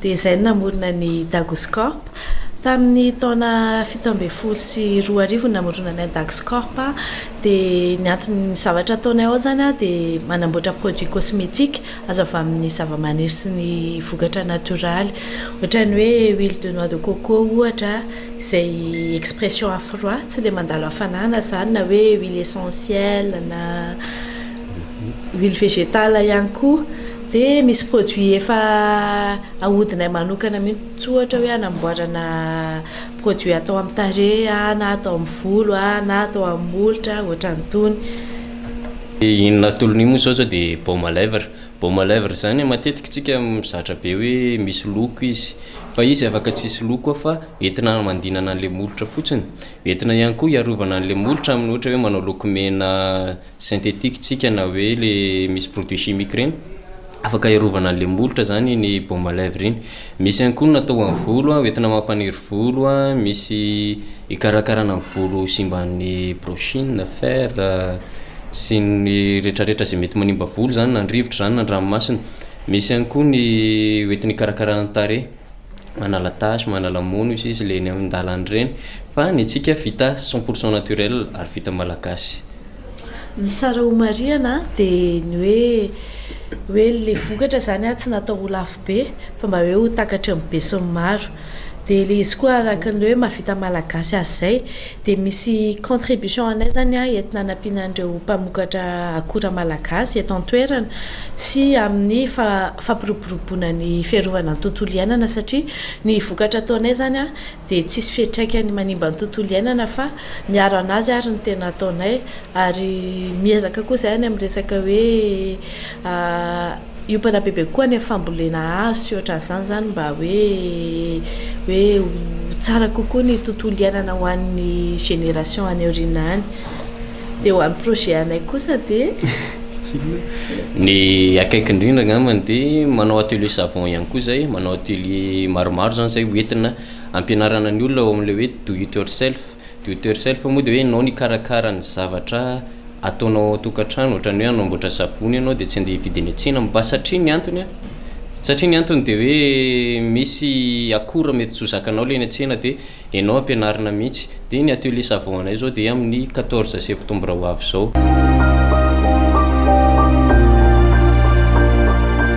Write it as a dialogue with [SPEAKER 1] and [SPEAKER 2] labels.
[SPEAKER 1] dia izay no namorona ny Dagos Corp. Tamin' ny taona fito ambin'ny folo sy roa arivo no namoronanay ny Dagos Corp. Dia ny anton' ny zavatra ataonay ao izany dia manamboatra produits cosmetiques azo avy amin' ny zavamaniry sy ny vokatra natioraly. Ohatra ny hoe huile de noix de coco ohatra izay expression à froid, tsy ilay mandalo hafanana izany, na hoe huile essentielle na. huile végétale ihany koa dia misy produit efa ahodinay manokana mihitsy ohatra hoe hanamboarana produit atao amin'ny tarehy na atao amin'ny volo na atao amin'ny molotra ohatran'itony. Dia iny natolony iny moa izao zao dia baume à lèvres, baume à lèvres zany matetika tsika mizatra be hoe misy loko izy fa izy afaka tsisy loko koa fa entina hamandinana an'ilay molotra fotsiny, entina ihany koa hiarovana an'ilay molotra amin'ny ohatra hoe manao lokomena. Synthétique tsika na hoe le misy produit chimique reny afaka hiarovana anle molotra zany ny baume à lèvres iny misy ihany koa ny natao ho an'ny volo a hoentina mampaniry volo a misy hikarakarana ny volo ho simban'ny brochine, fer sy ny retraretra zay mety manimba volo zany na ny rivotra zany na ny ranomasina misy ihany koa ny hoentina hikarakarana ny tarehy. manala tache, manala mono izy izy le eny amin'ny dalany ireny fa ny antsika vita cent pour cent naturel ary vita malagasy. Ny tsara homarihana dia ny hoe hoe le vokatra zany a tsy natao ho lafo be fa mba hoe ho takatry ny besinimaro dia le izy koa araka ny hoe mahavita malagasy azy zay Dia misy contribution anay izany entina hanampiana an'ireo mpamokatra akora malagasy eto an-toerana sy amin'ny fampiroboroboana ny fiarovana ny tontolo iainana satria ny vokatra ataonay izany dia tsisy fiantraikany manimba ny tontolo iainana fa miaro an'azy ary ny tena ataonay ary miezaka koa izahay any amin'ny resaka hoe Io mpanabe be koa ny fambolena hazo sy ohatran'izany izany mba hoe hoe ho tsara kokoa ny tontolo iainana ho an'ny génération any aoriana any. Dia ho an'ny projet anay kosa dia. Ny akaiky indrindra angambany dia manao atelier savon ihany koa izay, manao atelier maromaro izany izay ho entina ampianarana ny olona ao amin'ilay hoe do it yourself. Do it yourself moa dia hoe ianao no hikarakara ny zavatra ataonao ao an-tokantrano, ohatran'ny hoe hanamboatra savony ianao dia tsy handeha hividy eny an-tsena mba satria ny antony a, satria ny antony dia hoe misy akora mety tsy ho zakanao ilay eny an-tsena dia ianao ampianarina mihitsy. Dia ny atelier savon anay izao dia amin'ny quatorze septembre ho avy izao.